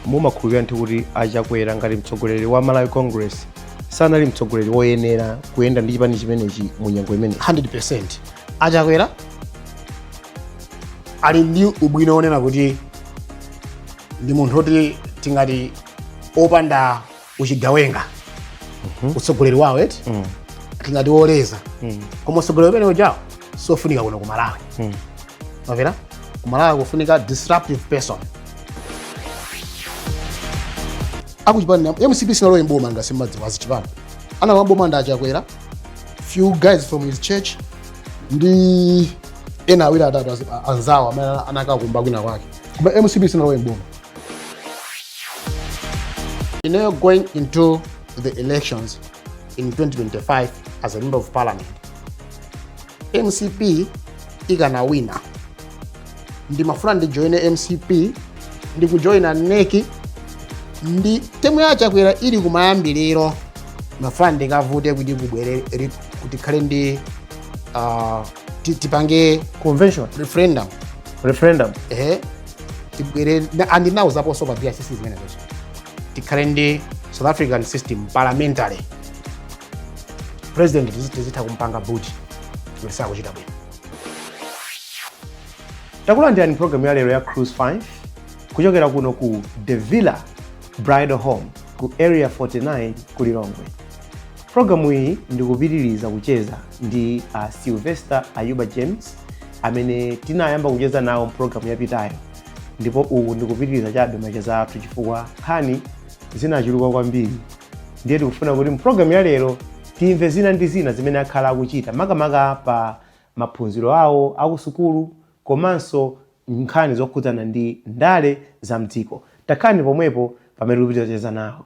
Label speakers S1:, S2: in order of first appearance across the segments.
S1: mumakhulupirira ndithu kuti achakwera ngati mtsogoleri wa malawi congress sanali mtsogoleri woyenera kuyenda ndi chipani chimenechi mu nyengo imene
S2: 100% achakwera ali ndi ubwino onena kuti ndi munthu oti tingati opanda uchigawenga utsogoleri wawo eti tingati woleza koma utsogoleri umene ujawo siofunika kuno ku malawi mwamvera ku malawi kufunika disruptive person akuchipani mcp sinalowe mboma ngati simmadziwa azichipani analowa mboma ndi achakwera few guys from his church ndi ena awiri atatu azi- a- anzawo amene anakakumba kwina kwake koma mcp sinalowe mboma ineyo going into the elections in 2025 as a member of parliament, MCP ikanawina ndimafuna ndijoyine mcp ndikujoyina nec ndi timu ya chakwera ili kumayambiriro ndimafuna ndikavute kuti kubwere ri- kuti kukhale ndi ah, ti- tipange convention referendum
S1: referendum ehe
S2: tibwere na- and ndinauzaponso pa bicc zimenezo tikhale ndi south african system parliamentary president tizi- tizitha kumpanga boot time sakuchita bwino
S1: takulandirani programu ya lero ya cruise 5 kuchokera kuno ku the villa bridal home ku area 49 ku lilongwe programu iyi ndikupitiriza kucheza ndi uh, sylvester ayuba james amene tinayamba kucheza nawo mpulogalamu yapitayo ndipo uku ndikupitiriza chabe macheza athu chifukwa nkhani zinachuluka kwambiri ndiye tikufuna kuti mpulogalamu ya lero timve zina ndi zina zimene akhala akuchita makamaka pa maphunziro awo akusukulu komanso nkhani zokhudzana ndi ndale za mdziko takhalani pomwepo pamene tikupitiriza kucheza nawo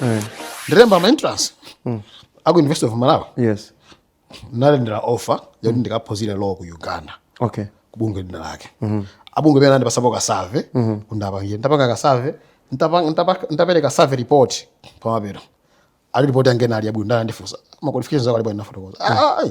S2: eh. ndinalemba ma entrance mm. aku university of malawi
S1: yes ndinalandira
S2: offer yoti mm. ndikaphunzire law ku uganda okay kubungwe
S1: lina lake
S2: mm -hmm. abungwe ena anandipatsapo ka survey mm -hmm. kuti ndiwapangire nditapanga ka survey nditapereka survey report pamapeto ali report yange nali yabwino ndiye anandifunsa ma qualifications ako ali bwanji ndinafotokoza mm. ah, ah, ah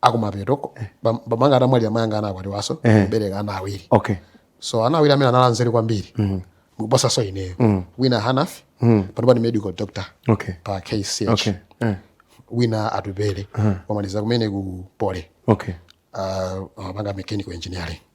S2: akumapetoko bambo anga atamwalira mayi anga anakwatiwaso eh. kubereka ana awiri okay. so
S1: ana awiri amene
S2: anali anzeru kwambiri mm. kuposaso ineyo mm. wina hanafi mm. panopa ni medical doctor okay. pa kch okay.
S1: eh.
S2: wina atupele uh -huh. wamaliza kumene ku poly okay. wapanga mechanical engineering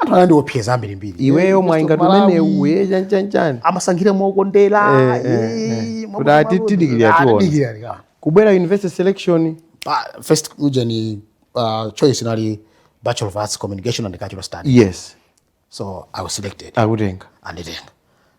S2: anthu anandiopseza ambirimbiri iweyo mwainga
S1: tumene uye chanchanchani amasankhira
S2: mokondera eh, eh, eh.
S1: kuti titadikirira tiona kubwera university selection ah,
S2: first ujeni uh, choice inali bachelor of arts communication and cultural studies yes so
S1: i was
S2: selected akutenga anditenga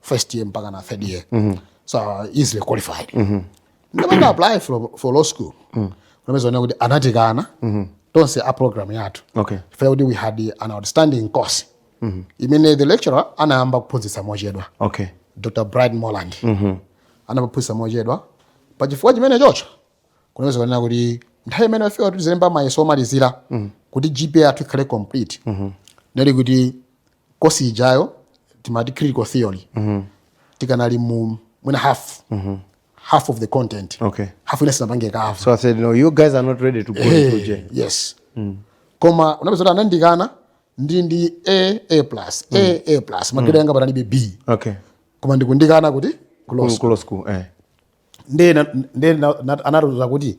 S2: first year mpakana third year mm -hmm. so uh, easily qualified mm -hmm. ndapanga apply for, for law school mm -hmm. unapezeka kuti anatikana mm -hmm. tonse a program yathu okay. chifukwa kuti we
S1: had an
S2: outstanding course mm -hmm. imene the lecturer anayamba kuphunzitsa mochedwa okay.
S1: dr bright
S2: molande mm -hmm. anayamba kuphunzitsa mochedwa pa chifukwa chimenecho kunapezeka kunena kuti nthawi imene yafika kuti tizilemba mayeso omalizira mm -hmm. kuti gpa yathu ikhale complete mm -hmm. nali kuti kosi ijayo timaiti critical theory tikanali mu mwina half half of the content Okay. half ina sitinapange cover so i said no you guys
S1: are not ready to go into Hey, gen yes
S2: koma unapezeka kuti anandikana ndi ndi a a plus a a plus magiredi anga panalibe b okay koma
S1: ndikundikana
S2: kuti close close school
S1: eh ndi
S2: ndi anatiuza kuti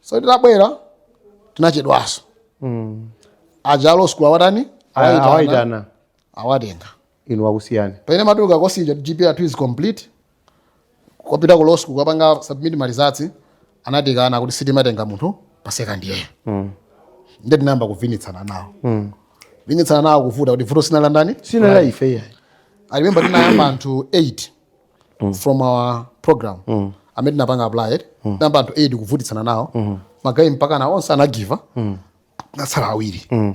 S2: so titabwera tinachedwanso mm. aja a law school awatani awaitana awatenga inu wakusiyani
S1: pamene matuka kosija
S2: gpa yathu is complete kupita ku law school kukapanga submit ma results anatikana kuti sitimatenga munthu pa second year mm. nde tinayamba kuvutitsana nawo mm. kuvutitsana nawo kuvuta kuti vuto si la ndani si la ife
S1: i
S2: remember tinayamba anthu 8 mm. from our program mm. amene tinapanga apply mm. tinayamba anthu 8 kuvutitsana nawo mm. magayi mpakana onse anagiva mm. tinatsala awiri mm.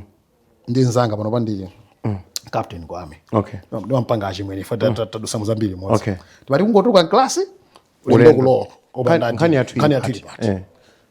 S2: ndi mnzanga pano pano ndi mm. captain kwame okay. ndimampanga achimwene ife mm. tadutsa mu zambiri limodzi okay. timati kungotuluka mklasi ulendo kulowa nkhani
S1: yathu ili pati
S2: eh.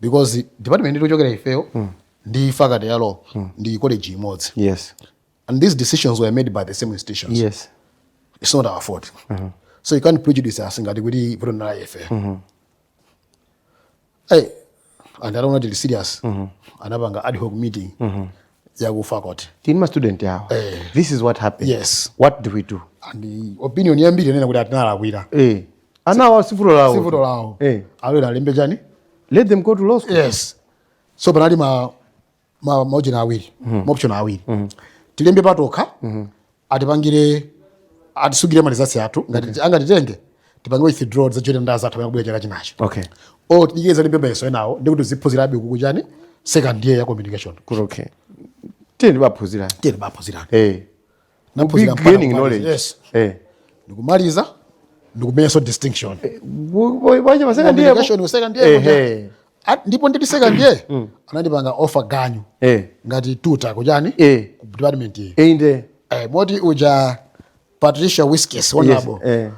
S2: because department yomwe tikuchokera ifeyo ndi faculty ya law ndi college imodzi yes
S1: and these
S2: decisions were made by the same institution yes
S1: it's not our
S2: fault so you can't prejudice us ngati kuti vuto ndinali ife hey, and ataona tili serious anapanga ad hoc meeting ya ku faculty tili ndi ma student awo
S1: Eh. this is what happened Yes. what do we do and the opinion
S2: yambiri inanena kuti tinawalakwira eh
S1: anawa sivuto lawo sivuto
S2: lawo eh. abwere alembe chani let them go to
S1: law school
S2: yes so panali ma ma maoption awiri mm. maoption awiri mm. tilembe patokha mm. atipangire atisungire ma results athu ngati okay. angatitenge tipange withdraw tizajoine anzathu akubwera chaka chinacho okay or tingokalemba mayeso enawo ndikuti tiziphunzirabe kuku chani second year ya communication kuti okay
S1: tiyeni baphunzirani tiyeni baphunzirani eh hey.
S2: Naphunzira mpaka gaining kumaliza. knowledge Yes. eh ndikumaliza ndikumenyanso distinction wa
S1: cha Mass Com ndiye Communication ku second year kuja. ehe
S2: At- ndipo ndili second year anandipanga offer ganyu eh ngati tutor kuchani eh ku department iyi inde eh,
S1: moti uja
S2: patricia Wiskes honorable eh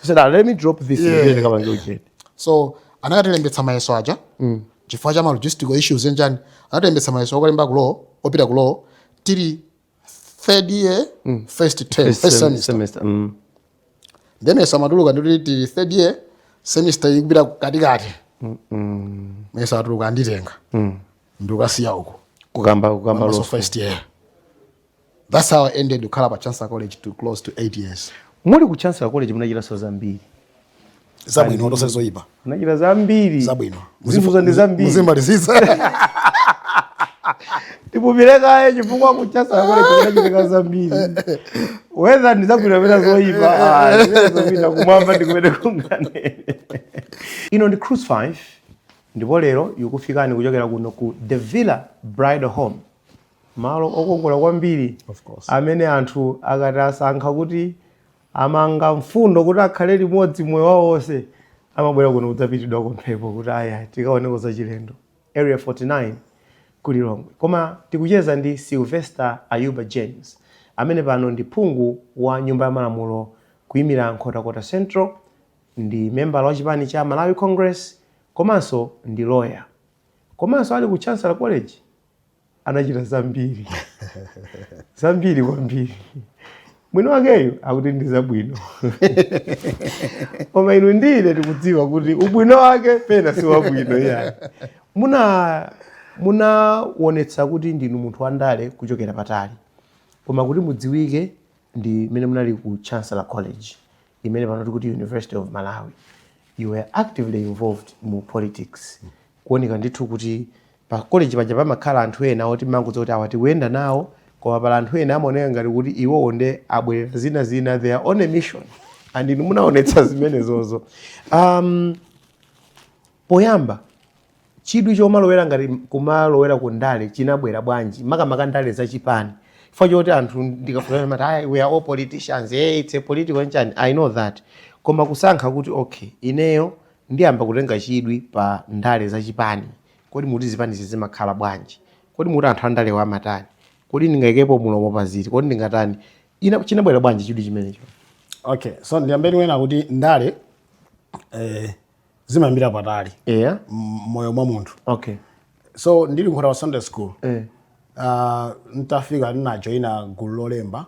S1: She said, ah, let me drop this Yeah. ndiye ndikapange ujeni.
S2: so anakatilembetsa mayeso aja chifukwa cha ma logistical issues eyi nchani anatilembetsa mayeso okalemba ku law opita ku law tili third year first term First first sem- semester semester. Mm. then mayeso amatuluka titi tili third year semester ikupita katikati mayeso atuluka anditenga ndikukasiya uku Kukamba kukamba
S1: Mass Com law. first year
S2: That's how I ended kukhala pa Chancellor College to close to 8 years. Muli ku Chancellor
S1: College munachitanso zambiri.
S2: Zabwino ndu osati zoipa. Munachita zambiri.
S1: Zabwino. Muzifunsa
S2: ndi zambiri.
S1: Muzimalizitsa. Tipumirekaye chifukwa ku Chancellor College munachita zambiri. Whether ndi zabwino pena zoipa. Ah, zopita kumwamba ndi kumene kukangane. Ino ndi Cruise 5 ndipo lero ikufikani kuchokera kuno ku The Villa Bridal Home. malo okongola kwambiri amene anthu akati asankha kuti amanga mfundo kuti akhale limodzi moyo wawo wonse amabwera kuno kudzapitidwako mphepo kuti aya tikaoneko zachilendo area 49 ku lilongwe koma tikucheza ndi sylvester ayuba james amene pano ndi phungu wa nyumba ya malamulo kuyimira nkhotakota central ndi membala wa chipani cha malawi congress komanso ndi lawyer komanso ali ku chancellor college anachita zambiri zambiri kwambiri mwini wakeyo akuti ndi zabwino koma inu ndi ine tikudziwa kuti ubwino wake pena si wabwino iyayi ma munaonetsa kuti ndinu munthu wandale kuchokera patali koma kuti mudziwike ndi mmene munali ku chancellor college imene pano tikuti university of malawi you were actively involved mu politics kuoneka ndithu kuti pa college paja pamakhala anthu ena oti mangodziwa kuti awa tikuyenda nawo koma pala anthu ena amaoneka ngati kuti iwowo nde abwerera zinazina they are on a mission and inu munaonetsa zimenezozo um, poyamba Chidwi chomalowera ngati kumalowera ku ndale chinabwera bwanji makamaka ndale za chipani chifukwa choti anthu ndikafunsa amati ayi we are all politicians hey, it's a political nchani I know that koma kusankha kuti okay ineyo ndiyamba kutenga chidwi pa ndale za chipani kodi mukuti zipani zimakhala bwanji kodi mukuti anthu andalewa amatani kodi ndingayikepo mulomo pa ziti kodi ndingatani ina chinabwera bwanji chidwi chimenecho okay so
S2: ndiyambe ndi kunena kuti ndale eh, zimayambira patali eya m- moyo mwa munthu
S1: okay so
S2: ndili Nkhotakota secondary school eh. uh, ntafika ndinajoyina gulu lolemba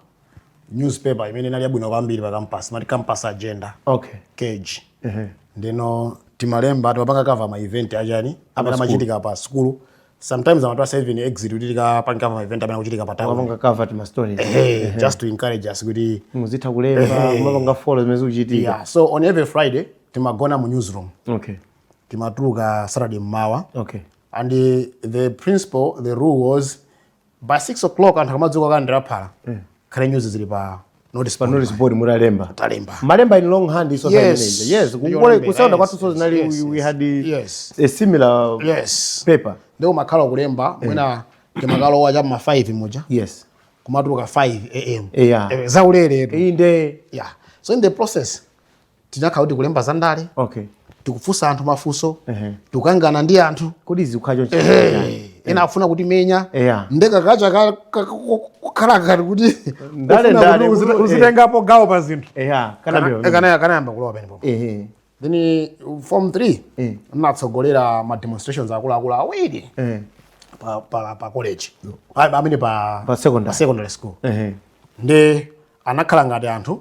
S2: newspaper imene inali yabwino kwambiri pa campus mati campus agenda okay cage Ehe. ndino timalemba timapanga cover ma event achani amene amachitika pa sukulu sometimes amatipatsa even exeat kuti tikapanga cover ma event amene akuchitika pa town mapanga cover tima story hey,
S1: just to
S2: encourage us kuti muzitha kulemba
S1: mapanga follow zimene zikuchitika yeah. so on every friday
S2: timagona mu newsroom
S1: okay
S2: timatuluka saturday mmawa okay and the, the principle the rule was by 6 o'clock anthu akamadzuka kalandira phala yeah. khale news zili pa notice pa notice board mutalemba
S1: talemba malemba in
S2: long hand
S1: iso yes yes
S2: kukole
S1: kusekondale kwathunso zinali yes, we had yes. a similar yes. paper nde mumakhala
S2: kulemba yeah. mwina timakalowa cha ma 5 muja yes kumatuluka 5 am yeah. Eh, zaulere inde
S1: yeah so in the
S2: process tinakhala kuti tikulemba za ndale okay
S1: tikufunsa
S2: anthu mafunso Ehe. tikukangana ndi anthu kodi zikukhala choncho
S1: Ehe.
S2: ena afuna kutimenya Eya. nde ka culture ka- ka- ko- kukhala ngati kuti Ndale, ufuna ndale, kuti uzi-
S1: kuti- uzitengapo
S2: gawo pa zinthu eya kana kana- mbira
S1: kana- kanayamba kulowa penepo
S2: ehe then uh, form 3 Eh. natsogolera ma demonstrations akuluakulu awiri eh pa, pa, pa college Pa- amene pa, Pa secondary. secondary school ehe ndi anakhala ngati anthu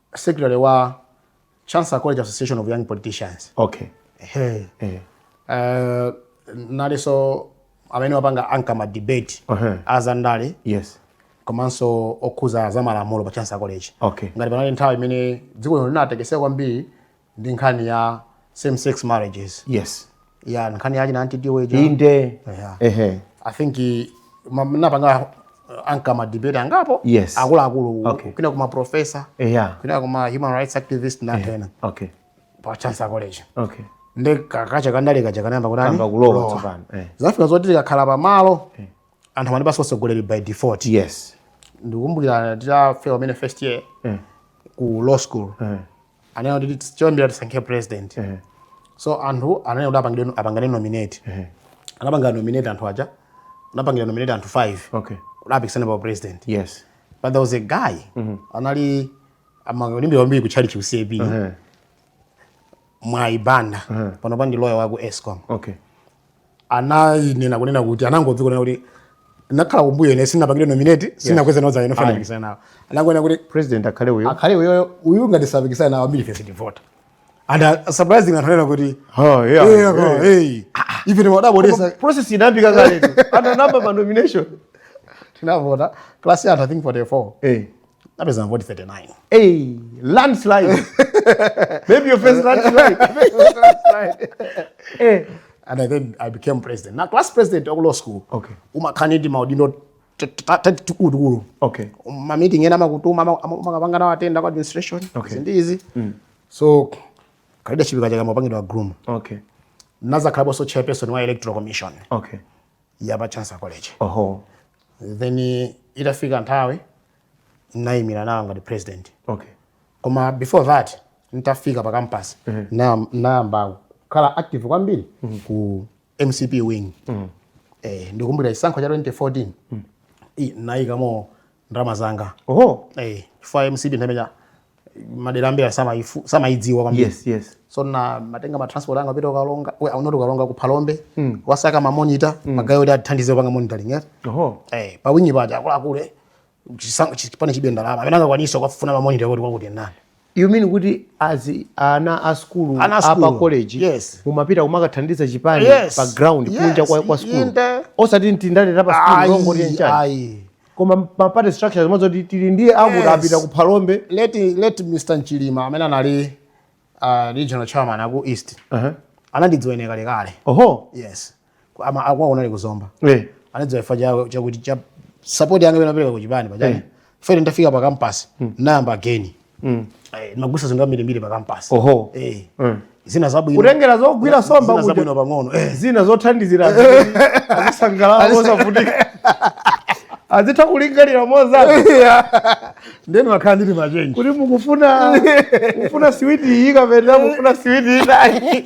S2: secretary wa Chancellor College Association of Young Politicians. Okay. Hey.
S1: Eh. Uh,
S2: nalinso amene wapanga anchor ma debate uh -huh. azandale
S1: yes
S2: komanso okhuza za malamulo pa Chancellor College okay. ngati panali nthawi
S1: imene
S2: dziko lino linatekeseka kwambiri ndi nkhani ya same sex marriages yes
S1: ya nkhani
S2: yachina Aunt Tiwo ija inde
S1: Yeah. ehe
S2: i think i- ma- napanga uh, anchor madebate angapo Yes. akuluakulu Okay. kwina kuma professor eya kwina kuma human rights activist natena okay
S1: pa
S2: chancellor college okay
S1: nde ka
S2: culture kandale kaja kanayamba kuti Kamba kulowa tsopano,
S1: eh. zafika zoti
S2: tikakhala pamalo anthu amandipatsa utsogoleri by default yes
S1: ndikumbukira
S2: titafika pamene first year eh ku law school eh anena kuti tis- choyambira tisankhe president so anthu ananena kuti apangire- apangane nominate anapanga nominate anthu aja anapangidwa nominate anthu 5 okay kuti apikisane
S1: pa president
S2: yes but there
S1: was a
S2: guy anali amalimbikira kwambiri ku tchalitchi ku CCAP Eh, Mwayi Banda panopa ndi loya waku escom okay anayinena kunena kuti anangodzuka kunena kuti nakhala kumbuyo ine sinapangidwe nominate sinakweze nawo dzanja lofuna kupikisana nawo anangonena kuti president akhale uyo akhale
S1: uyo uyu ngati
S2: sapikisana nawo ambirife sitivota and uh, surprising anthu anena kuti oh yeah, hey, yeah, yeah. hey. ife timadabodesa process inapita
S1: kaletu ana namba ma nomination tinavota
S2: class ya anthu i think 44 eh napeza mavoti 39 hey,
S1: landslide maybe your first landslide
S2: eh. and I then I became president now class president of law school okay umakhala ndi
S1: timaudindo
S2: tatikulu
S1: okay mameeting
S2: ena amakutuma amakapanga nawo attend kwa administration okay. ndizi mm. so ka leadership kaja kamapangidwa ka groom okay
S1: nazakhalaponso
S2: chairperson wa electoral commission okay
S1: ya pa
S2: Chancellor college oho then itafika nthawi nayimira nawo ngati president okay koma before that ntafika pa campus na- nayamba kukhala active kwambiri ku mcp wing eh, ndikumbukira chisankho cha 2014 i- nayikamo ndalama zanga oh eh chifukwa mcp nthawi imeneyo madera ambiri samaifu- samaidziwa kwambiri yes yes so ndimatenga ma transport anga pita ukalonga we aunoti ukalonga ku phalombe kukasaka ma monitor magayo kuti atithandize kupanga monitoring eh oh eh pa wing paja akuluakulu eh, chisango chipani chilibe ndalama amene angakwanisa kuwafuna ma monitor kuti kwakuti ndani you mean
S1: kuti azi ana a skulu Ana a a pa skulu, college yes. mumapita kumakathandiza chipani Yes, pa ground yes, kunja kwa, kwa skulu inde. osati mtindale ta pa skulu Ayi, longoti nchani ayi. koma ma party structures zimodzi ti- tili ndiye akuti Yes. apita ku phalombe late, late
S2: mr nchilima amene anali uh, regional chairman aku east Aha. anandidziwanso kalekale oho yes Ku- ama akwawo unali ku zomba Eh. anadziwa chifukwa cha- chakuti cha sapoti yanga imene ndimapereka ku chipani pa chani Eh. fere ndafika pa kampasi nayamba again Mm. kumagulitsa zinthu ambirimbiri pa kampasi Oho. Eh. Mm. zina zabwino kutengera zogwira somba
S1: zina kuja zabwino pang'ono
S2: Eh. zina
S1: zothandizira azisangalala mosavutika azitha kulingalira mozama
S2: ndiyeno ndimakhala ndili ma change kuti mukufuna
S1: mukufuna siwiti iyi kapena mukufuna siwiti ina iyi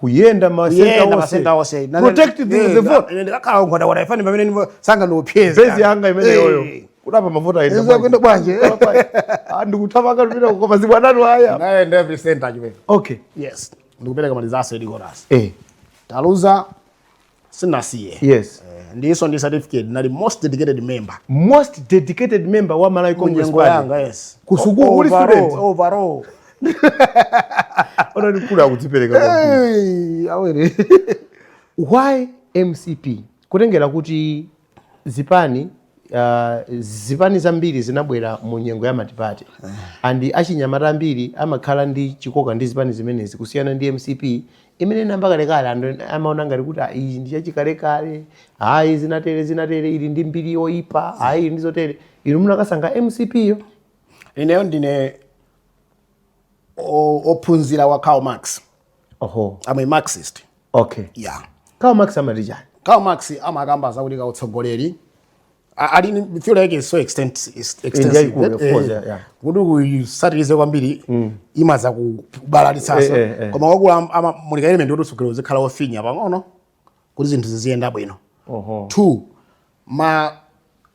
S2: kuyenda ma center
S1: kuyenda onse masenta onse Na- na-
S2: protect the, eh, the
S1: na- vote na- ndakakhala ku nkhotakota ifani
S2: pamene ndipo sanga ndi opeza base yanga imene yoyo
S1: kudali mavuto ayenda Izo kwenda bwanji. ndikuthamanga kupita koma zibwanatu haya nayenda every
S2: center chimene okay yes ndikupereka malizase edikoras eh taluza sinasiye yes Eh, ndinso ndi certificate nali most dedicated member most dedicated member wa malawi congress munyengo party yanga yes Ku
S1: sukulu uli Overall, student? overall ona mkulu akudzipereka kwambiri. Hey, awere why mcp kutengera kuti zipani uh, zipani zambiri zinabwera mu nyengo ya multiparty and achinyamata ambiri amakhala ndi chikoka ndi zipani zimenezi kusiyana ndi mcp imene inayamba kalekale anthu amaona ngati kuti "Ah, iyi ndi yachikalekale ayi zinatere zinatere ili ndi mbiri yoyipa ayi ili ndi zotere inu munakasankha mcp yo ineyo ndine
S2: o- ophunzira wa Karl Marx oho I'm a Marxist okay
S1: yeah Karl Marx amati chani Karl
S2: Marx amakamba zakuti kautsogoleri a- ali ni- theory yake is so extent- is extensive yaikulu, that, of course, eh, yeah, yeah. kuti kuisatirize kwambiri imazakubalalitsanso Eh, eh, eh. koma wakula amamulika element kuti utsogoleri uzikhala wofinya pang'ono kuti zinthu ziziyenda bwino Oho. two ma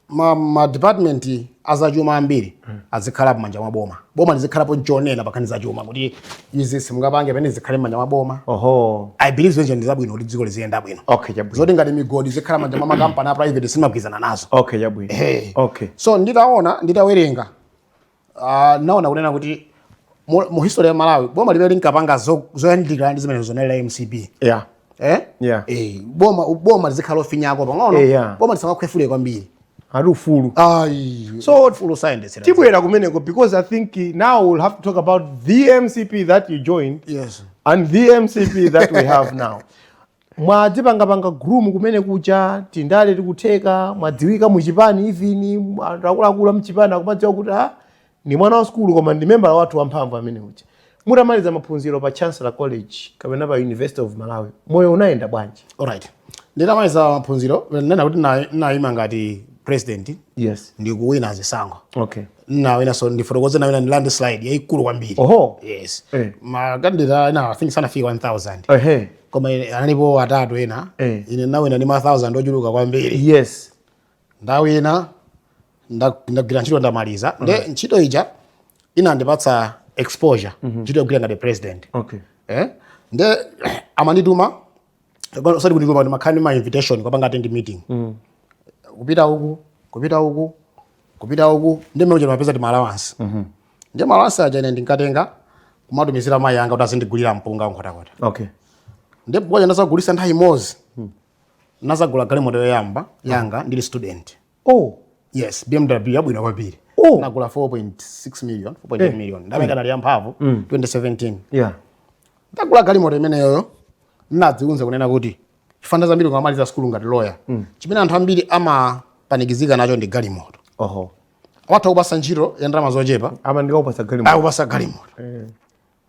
S2: ma, ma department azachuma ambiri azikhala m'manja mwa boma boma lizikhalapo nchonena pankhani zachuma kuti izi simungapange pena zikhale m'manja mwa boma Oho. i believe zonse ndi zabwino kuti dziko liziyenda bwino Okay, chabwino. zoti ngati migodi zikhala m'manja mwa makampani a private sindimagwirizana nazo Okay, chabwino. Hey. Okay. so nditaona nditawerenga Ah, naona kunena kuti mu mu history ya malawi boma limene linkapanga zo- zoyandikirana ndi zimenezo linali la mcp yeah eh? Yeah. Eh, boma boma lizikhala lofinyako pang'ono Eh, yeah. boma lisamakhwefule kwambiri ati
S1: ufulu ayi
S2: so full science tibwera kumeneko
S1: because i think eh, now we'll have to talk about the mcp that you joined yes and the mcp that we have now mwadzipangapanga groom kumene kuja tindale tikutheka mwadziwika muchipani even anthu akuluakulu amchipani akumadziwa kuti a ah, ndi mwana wa sukulu koma ndi membala wathu wamphamvu amene uja mutamaliza maphunziro pa chancellor college kapena pa university of malawi moyo unayenda bwanji alright
S2: nditamaliza maphunziro nena kuti nayima ngati president yes ndikuwina zisankho okay nawina so ndifotokoze nawina ni landslide yaikulu kwambiri oho yes Eh. makandidate ena i think sanafika 1000 ehe koma ine- analipo atatu ena Eh. ine nawina ni ma 1000 ochuluka kwambiri yes ndawina nda- ndagwira ntchito ndamaliza nde ntchito ija inandipatsa exposure ntchito yogwira ngati president okay eh? nde amandituma osati kundituma ndimakhala ndi ma invitation kukapanga attend meeting kupita uku kupita uku kupita uku nde mmene muja ndimapeza ti allowance nde ma allowance aja ine ndinkatenga kumatumizira mayi anga kuti azindigulira mpunga ku nkhotakota okay nde mpunga uja ndazagulitsa nthawi imodzi nazagula galimoto yoyamba yanga ndili student oh yes bmw yabwino kwambiri Oh. nagula 4.6 million 4.8 Eh. million ndalama ikanali yamphamvu Mm. 2017 yeah ndagula galimoto imeneyoyo ndinadziuza kunena kuti chifukwa nthawi zambiri ukamaliza sukulu ngati loya chimene anthu ambiri amapanikizika nacho ndi galimoto oho atha kukupasa ntchito ya ndalama zochepa koma ndikukupasa galimoto
S1: akupasa galimoto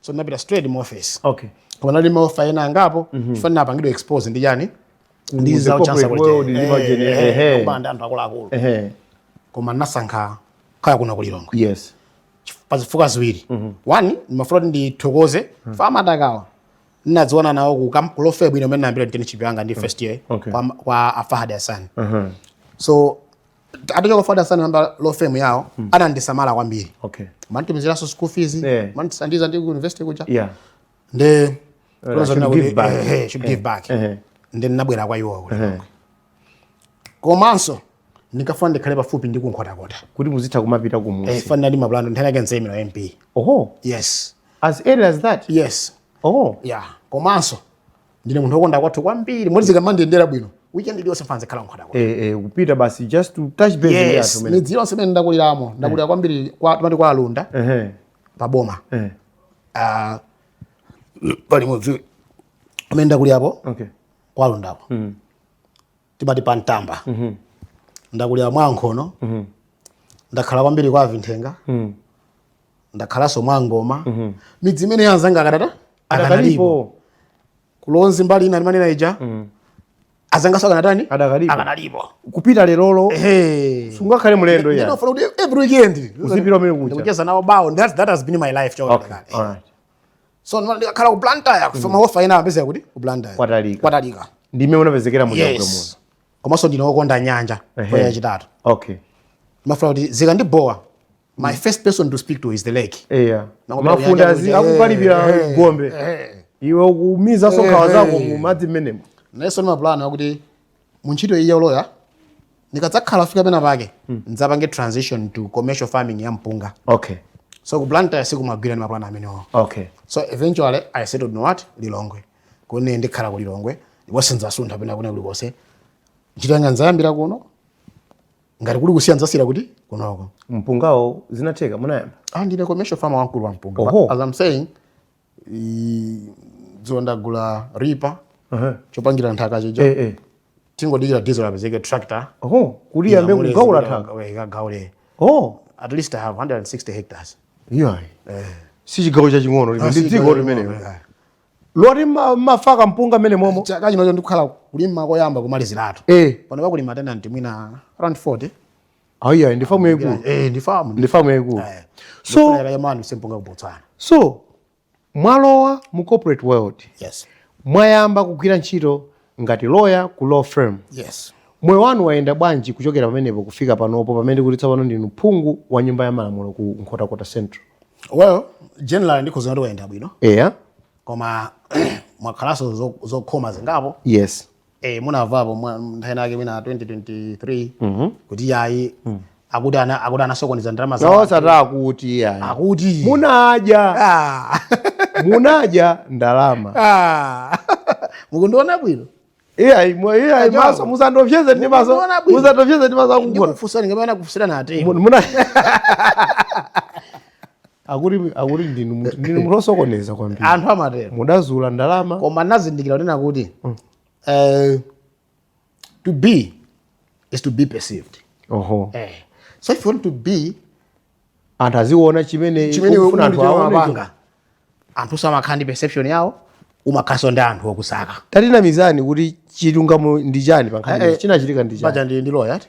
S1: so
S2: ndinapita straight mu office okay koma nali ndi ma offer ena angapo mm -hmm. chifukwa ndinapangidwa expose ndi chani ndi za chancellor college ehe koma ndi anthu akuluakulu ehe koma ndinasankha kukhala kuno ku lilongwe yes pa zifukwa ziwiri mm -hmm. one ndimafuna kuti ndithokoze mm -hmm. fama atakawa ndinadziwana nawo ku kam ku law firm ino imene ndinayambira internship yanga ndi first year okay. kwa, kwa afahad hassan uh -huh. so atachoka Fahad Assani anayamba law firm yao mm. anandisamala kwambiri okay amanditumiziranso school fees yeah. amandithandiza ndili ku university kuja yeah nde uh, should give back eh, eh should give back eh, eh. nde ndinabwera kwa iwo kule eh. komanso ndinkafuna ndikhale pafupi ndi ku Nkhotakota kuti ndizitha
S1: kumapita kumudzi eh, fa ndinali ndi mapulani oti nthawi ina
S2: yake ndzaimira MP oh yes as early as
S1: that yes oh
S2: yeah komanso ndine munthu wokonda kwathu kwambiri moti zikamandiyendera bwino weekend iliyonse ndimafuna ndizikhala ku Nkhotakota eh eh kupita basi
S1: just to touch base yes, yathu mene midzi yonse imene
S2: ndakuliramo ndakulira eh. kwambiri kwa timati kwa alunda eh eh pa boma eh ah pali mudzi amene ndakulirapo okay kwa alundapo mm. timati pa mtamba ndakulira mwa nkhono ndakhala kwambiri kwa avinthenga ndakhalanso mwa ngoma midzi imeneyo anzanga akadata akadalipo adakalipo kulonzi mbali ina ndimanena ija anzanganso akanatani Adakalipo. akanalipo kupita lerolo ehe sungakhale mlendo Nde ndimafuna kuti every weekend Uzipita kumene kuja. ndikucheza nawo bawo that that has been my life choka okay kale. all right so no ndikakhala ku Blantyre so ma offer ena apezeka kuti ku Blantyre Kwatalika. kwatalika ndi mmene ndinapezekera mu chakudya muno yes komanso ndine wokonda nyanja Ehe. kwa yachitatu okay ndimafuna kuti zikandibowa my first person to speak to is the lake eya Nanga mafunde pali azi nyanja kuti, akukalipira eh, eh, gombe eh. iwe ukumizanso nkhawa Eh, zako eh. mu madzi mmenemo ndinalinso ndi mapulani akuti mu ntchito iyi ya uloya ndikadzakhala ndafika pena pake ndidzapange transition to commercial farming ya mpunga okay so ku blantyre sikumagwira ndi mapulani amenewo okay so eventually i settled you know what lilongwe kuno ndikhala ku lilongwe ndipo sindzasuntha pena kwina kulikonse ntchito yanga ndzayambira kuno ngati kuli kusiya ndzasiyira kuti kunoko mpungawo zinatheka munayamba ah ndine commercial farmer wamkulu wa mpunga Oho. But as i'm saying I- dzulo ndagula ripa Aha. chopangira nthaka chija Eh, eh. tingodikira diesel apezeke tractor Oh, kuti iyambe Inyamule kugaula zikuda- nthaka. we- ikagaule Oh, at least i have 160 hectares yeah. Si chigawo chaching'ono limene ndi dziko limenelo. Loti ma- mafaka mpunga mmenemomo. chaka chinocho ndikukhala kulima koyamba kumaliziratu Eh. pano pakulima tenanti mwina around 40 Ayi ayi ndi famu yaikulu. Eh ndi famu. Ndi famu yaikulu. Eh. So ya manu sempunga ku Botswana. So mwalowa mu corporate world. Yes. Mwayamba kugwira ntchito ngati lawyer ku law firm. Yes. Moyo wanu wayenda bwanji kuchokera pamenepo kufika panopo pamene kuti tsopano ndinu phungu wa nyumba ya malamulo ku Nkhotakota Central? Well, generally ndikhoza kuti wayenda bwino. Yeah. Koma mwakhalanso zokhoma zingapo. Yes. eh munavapo mwa- nthawi inayake mwina 2023 kuti yayi akuti ana akuti anasokoneza ndalama za nawo sataya kuti iyayi akuti munaja ah munaja ndalama ah mukundiona bwino iyayi mwa- iyayi a Joab. maso musandiopseze ndi maso Mukuona bwino. musandiopseze ndi maso akugona ndikufunsa ndimafuna kufunsira nate muna akuti akuti ndinu munthu- ndinu munthu osokoneza kwambiri anthu amatero mudazula ndalama koma nazindikira kunena kuti eh, to be is to be perceived oho eh. so if you want to be anthu aziona chimene chimene ukufuna anthu aone amapanga anthu samakhala ndi perception yawo umakhalanso ndi anthu okusaka tatinamizani kuti chilungamo ndi chani pa nkhani Eh, eh. imeneyi? chinachitika ndi chani paja ndi ndi lawyer eti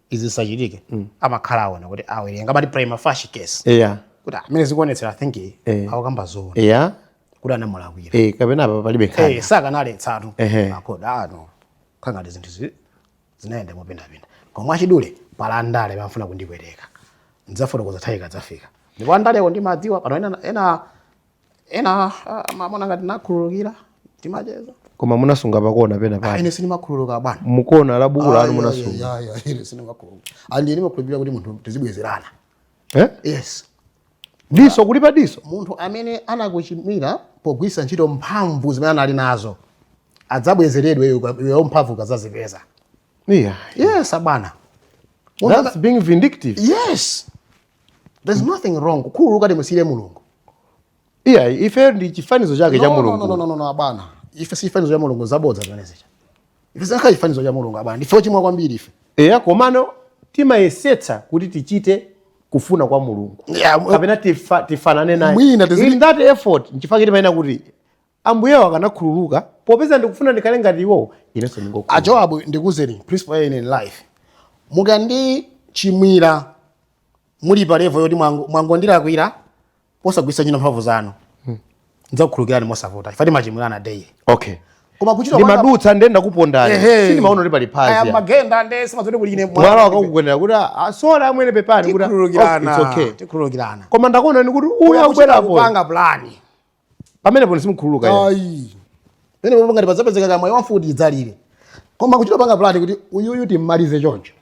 S2: izi zisachitike amakhala aona kuti awerenga amati prima facie case eya kuti mmene zikuonetsera i think Eh. akukamba zoona eya kuti anamulakwira eh, kapena apa palibe nkhani
S1: Eh, sakanaletsatu Ehe.
S2: makhoti ano khangati zinthu zi- zinayenda mopindapinda koma mwachidule pali andale amafuna kundipweteka ndidzafotokoza nthawi ikadzafika ndipo andalewo ndimawadziwa pano ena, ena ena ah, amaona ngati nakhululukira timacheza koma
S1: munasunga pakona pena Ah, pake ine sindimakhululuka
S2: bwana mu kona la buku lanu
S1: munasunga Ah, yeah, yeah, yeah, ine sindimakhululuka
S2: and ndimakhulupirira kuti munthu tizibwezerana Eh? yes
S1: diso kulipa diso munthu
S2: amene anakuchimwira pogwiritsa ntchito mphamvu zimene anali nazo adzabwezeredwe iweyo mphamvu ukadzazipeza yeah. yes abwana Munthu that's
S1: being vindictive yes
S2: there's nothing wrong kukhululuka timusiyire mulungu
S1: iya ife ndi chifanizo chake cha mulungu abwana
S2: ife si chifanizo cha mulungu zabodza zimenezija ife zakhala chifanizo cha mulungu abwana ndife ochimwa kwambiri ife eya
S1: komano timayesetsa kuti tichite kufuna kwa mulungu kapena tifanane naye in that effort nchifukwa timayenera kuti Ambuyewo akanakhululuka popeza ndikufuna ndikhale ngati iwowo, inenso ndingokhululuka. A Joab
S2: ndikuuzeni principle ya in life mukandichimwira muli pa level yoti mwango- mwangondilakwira posagwiritsa ntchito mphamvu zanu ndidzakukhululukirani mosavuta ife timachimwirana daily Okay. koma kuchita kwanga- ndimadutsa nde
S1: ndakupondani Ehe. sindimaona kuti pali Aya, phazi mumagenda nde simumadziwa
S2: kuti kuli ine mwala wakakukwendera kuti
S1: "Ah, sorry amwene pepani kuti, "Oh, it's okay."
S2: tikhululukirana koma ndakuonani kuti
S1: uyu akubwera apo kupanga plani pamenepo simukhululuka iye. ayi
S2: penepopo ngati padzapezeka kamwayi wa mfuti idzalire koma kuchita panga plani kuti uyuyu timmalize choncho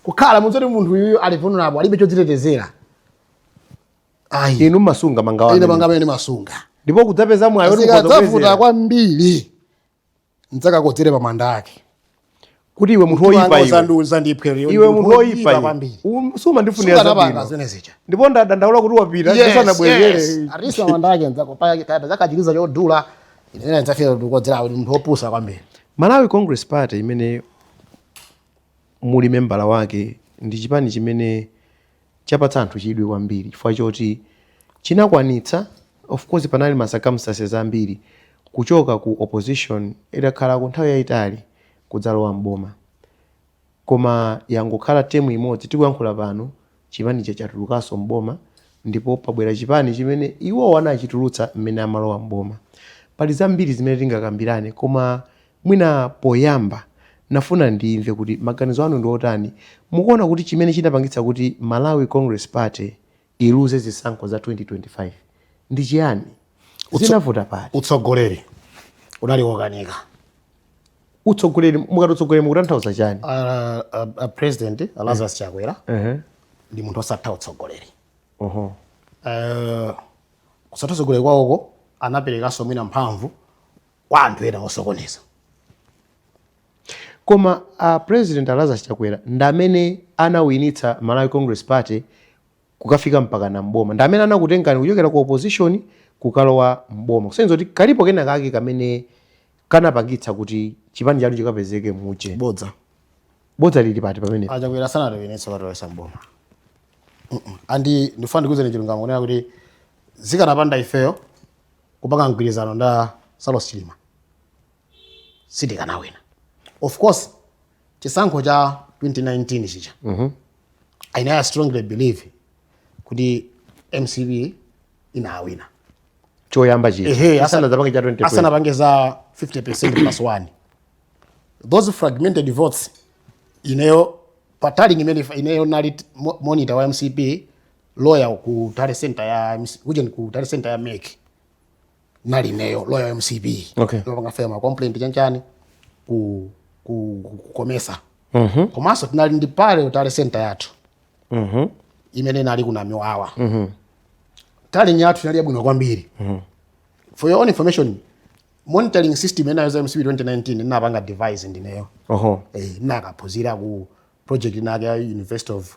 S2: kukhala mukudziwa kuti munthu uyuyu ali vulnerable alibe chodzitetezera
S1: ayi inu mmasunga ine mangawa panga pamene ndimasunga
S2: ndipo kudzapeza mwayi oti
S1: zikadzavuta mukhoza
S2: kwambiri ndidzakakodzere pa manda ake kuti
S1: iwe munthu Mtima woyipa wanga iwe uzandiuza ndiphe lero iwe munthu woyipa iwe kwambiri Um, sumandifunira sukanapanga zabwino zimene zija ndipo ndadandaula kuti wapita Yes, ndisanabwezere yes. Arisa manda
S2: ake adzaika chiliza chodula ine ndzafika ndikodzera kuti munthu wopusa kwambiri malawi
S1: congress party imene muli membala wake ndi chipani chimene chapatsa anthu chidwi kwambiri chifukwa choti chinakwanitsa of course panali ma circumstances ambiri kuchoka ku opposition itakhalako nthawi yaitali kudzalowa m'boma koma yangokhala term imodzi tikuyankhula pano chipani chija chatulukanso m'boma ndipo pabwera chipani chimene iwowo anachitulutsa mmene amalowa m'boma. Pali zambiri zimene tingakambirane koma Mwina poyamba nafuna ndimve kuti maganizo anu ndi otani, mukuona kuti chimene chinapangitsa kuti Malawi Congress Party iluze zisankho za 2025 ndi chiyani? Zinavuta pati? Utsogoleri
S2: unali wokanika.
S1: Utsogoleri, mukati utsogoleri mukutanthauza chani? A, a, a President
S2: a Lazarus Chakwera uh -huh. ndi munthu osatha utsogoleri uh -huh. uh, kusatha utsogoleri kwawoko anaperekanso mwina mphamvu kwa anthu ena
S1: osokoneza. Koma a president a Lazarus Chakwera ndamene anawinitsa Malawi Congress Party kukafika mpakana mboma, ndamene anakutengani kuchokera ku opposition kukalowa mboma, kusonyeza kuti kalipo kena kake kamene kanapangitsa kuti chipani chanu chikapezeke muja. Bodza. Bodza lili pati pamene? A Chakwera sanatiwinitse
S2: katilowetsa mboma. Mm -mm. And ndifuna ndikuuzeni chilungamo kunena kuti zikanapanda ifeyo kupanga mgwirizano ndi a saulos chilima sitikanawina of course chisankho cha 2019 chija i know i strongly believe kuti mcp inawina
S1: choyamba Ehe, asa- chisanadzapange cha 2020
S2: asanapange za 50% plus 1 those fragmented votes ineyo pa tallying imene ineyo nali mo- monitor wa mcp lawyer ku tally center ya MC kuja ku tally center ya mec nali ineyo lawyer wa mcp Okay. wopanga file ma complaint chanchani ku ku ku- ku Comesa Mhm. komanso tinali ndi parallel tally center yathu Mhm. imene inali ku Namiwawa Mhm. tallying yathu inali yabwino kwambiri Mhm. for your own information monitoring system inayo ya mcp 2019 inapanga devise ndineyo Oho. eh, nakaphunzira ku project inake ya university of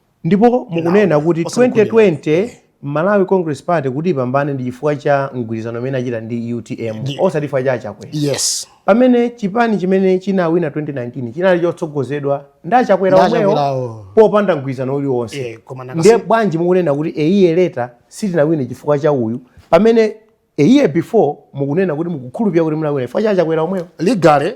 S2: Ndipo
S1: mukunena kuti 2020 Malawi Congress Party kuti ipambane ndi chifukwa cha mgwirizano umene achita ndi utm osati chifukwa cha achakwera yes. pamene
S2: chipani
S1: chimene chinawina 2019 chinali chotsogozedwa ndi achakwera omwewo popanda mgwirizano uliwonse yeah, ndiye bwanji mukunena kuti eiye leta sitinawine chifukwa cha uyu pamene a year before mukunena kuti mukukhulupirira kuti munawina chifukwa cha achakwera omwewo ligale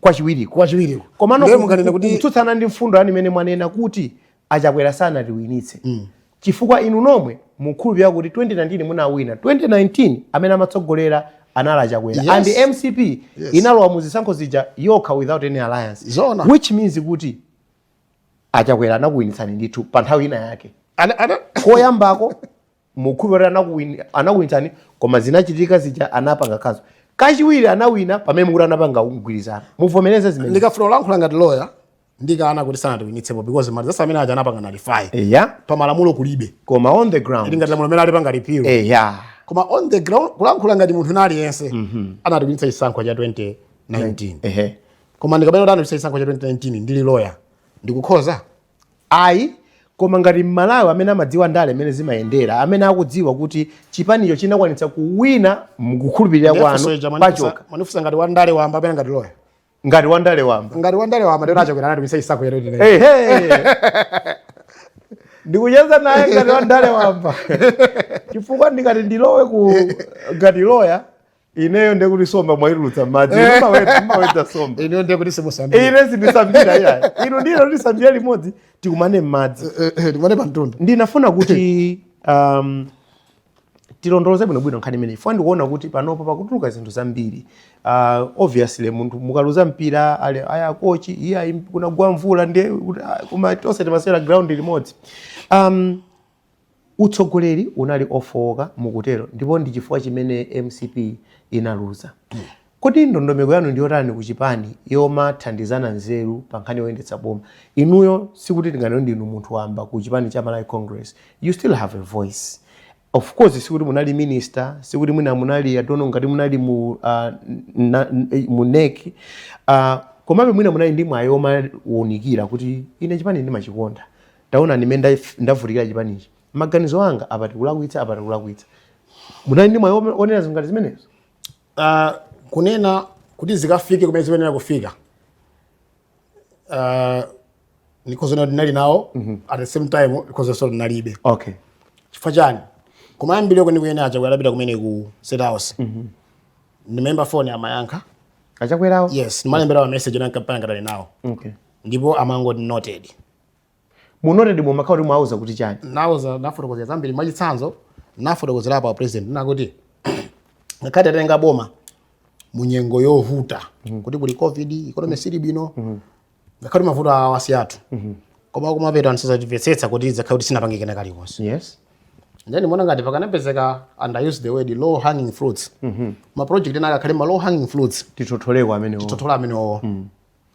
S2: kwachiwiriko
S1: kwachiwiriko komano ndiye munganene kuti kutsutsana ndi mfundo yanu imene mwanena kuti achakwera sanatiwinitse mm. chifukwa inu nomwe mukhulupirira kuti 2019 munawina 2019 amene amatsogolera anali achakwera yes. and mcp yes. inalowa mu zisankho zija yokha without any alliance Zona. which means kuti achakwera anakuwinitsani ndithu pa nthawi ina yake koyambako mukhulupirira anakuwini anakuwinitsani koma zinachitika zija anapanga kazo kachiwiri anawina pamene mukuti anapanga mgwirizano muvomereze zimene ndikafuna kulankhula ngati loya
S2: ndikana kuti sanatiwinitsepo because marizatsi amene aja anapanga nullify eya pa malamulo kulibe koma on the ground
S1: ili ngati lamulo amene alipanga repeal
S2: eya koma on the ground kulankhula ngati munthu wina aliyense anatiwinitsa chisankho cha 2019 ehe koma ndikanena kuti anatiwinitsa chisankho cha 2019 ndili loya ndikukhoza
S1: Ayi, koma ngati m'Malawi amene amadziwa ndale mmene zimayendera, amene akudziwa kuti chipanicho chinakwanitsa kuwina mukukhulupirira Ndiye funso kwanu ija mwanifunsa pachokha, mwanifunsa ngati wandale
S2: wamba kapena ngati loya. ngati
S1: wandale wamba. Ngati wandale wamba ndiye a
S2: Chakwera anatiwinitsa chisankho cha 2019. Ehe.
S1: ndikucheza nanu ngati wandale wamba chifukwa ndikati ndilowe ku ngati loya ineyo ndekuti somba mwaitulutsa mmadzi eh. mwawedza somba ineyo ndekuti
S2: simusambira ine
S1: sindisambira iyayi inu ndi ine tisambira limodzi tikumane mmadzi eh, eh, tikumane pa mtunda
S2: ndinafuna kuti
S1: um, tilondoloze bwino bwino nkhani imeneyi chifukwa ndikuona kuti panopo pakutuluka zinthu zambiri uh, obviously munthu mukaluza mpira ayi a kochi iyayi kunagwa mvula ndiye ah, koma tonse timasewera ground limodzi um, Utsogoleri unali ofooka mukutero ndipo ndi chifukwa chimene mcp inaluza. Kodi ndondomeko yanu ndiyotani ku chipani yomathandizana nzeru pa nkhani yoyendetsa boma? Inuyo sikuti tinganene kuti ndinu munthu wamba ku chipani cha Malawi Congress, you still have a voice. Of course sikuti munali minister, sikuti mwina munali, I don't know ngati munali mu mu nec, komabe mwina munali ndi mwayi omawunikira kuti ine chipanichi ndimachikonda. Taonani mmene ndavutikira chipanichi. Maganizo anga apa tikulakwitsa, apa tikulakwitsa. Munali ndi mwayi wonena zinthu ngati zimenezo? Uh, kunena
S2: kuti zikafike kumene zikuyenera kufika uh, because ndinali nawo mm -hmm. at the same time because also ndinalibe okay chifukwa chani kumayambiriro kwenikweni achakwera atapita kumene ku state house mm -hmm. ndimaimba phone amayankha achakwerawo
S1: yes ndimalembera ma
S2: message ndi pano ndili nawo okay ndipo amangoti noted
S1: munotedi mumakhala kuti mwauza kuti chani nauza
S2: nafotokozera zambiri mwachitsanzo nafotokozera apa president nakuti ngakhale tatenga boma mu nyengo yovuta kuti kuli covid economy sili bwino ngakhale mavuto awa si athu koma kumapeto anthu sazatimvetsetsa kuti takhala kuti sitinapange kena kalikonse
S1: yes then muona
S2: ngati pakanapezeka and i use the word low hanging fruits ma project ena akakhale ma low hanging fruits titotoleko amenewo
S1: tothola amenewo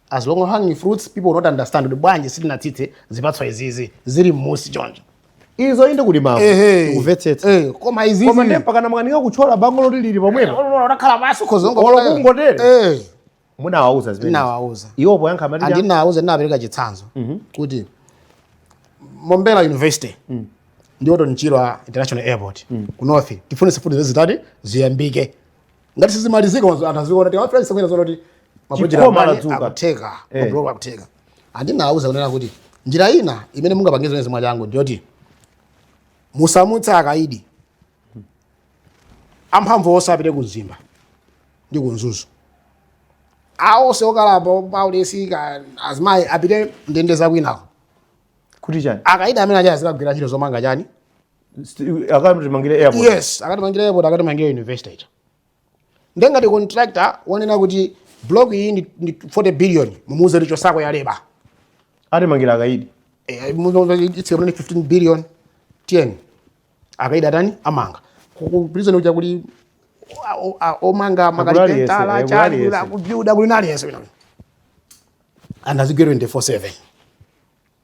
S2: as low hanging fruits people will not understand kuti bwanji sitinatsitse zipatso izizi zili m'munsi choncho izo inde
S1: kuti mawu Ehe. tikumvetsetsa Eh, koma izizi koma ndiye
S2: mpakana mwakanika
S1: kutchola bango loti lili pomwepo unakhala pasi khozongo
S2: Olo kungotere.
S1: munawauza zimene ndinawauza iwo
S2: poyankha
S1: amati ah ndinawauza ndinapereka
S2: chitsanzo kuti Mombera University ndi Orton Chirwa international airport ku north tifunitse kuti zizitani ziyambike ngati sizimalizika wanzo anthu aziona kuti wafrance kwera zona kuti mapojera Chikoma mani ladzuka. akutheka Eh. mabuloko akutheka and ndinauza kunena kuti njira ina imene mungapangize zimenezi mwachangu ndiyoti musamutsa akaidi amphamvu onse apite ku mzimba ndi ku mzuzu aonse okalamba paulesi azimayi apite ndende zakwinako kuti
S1: chani akaidi amene aja azikagwira
S2: ntchito zomanga chani
S1: akatimangire airport yes akatimangire
S2: airport akatimangire university ita nde ngati contractor wanena kuti block iyi ndi, ndi 40
S1: billion
S2: mumuuze ichotseko yaleba atimangira akaidi eh, eh, itsika mnene 15 billion 10 akaidi atani amanga kuprison uja kuli omanga makalipentala eh, chani ku Bvumbwe kuli ndi aliyense and azigwira 24 7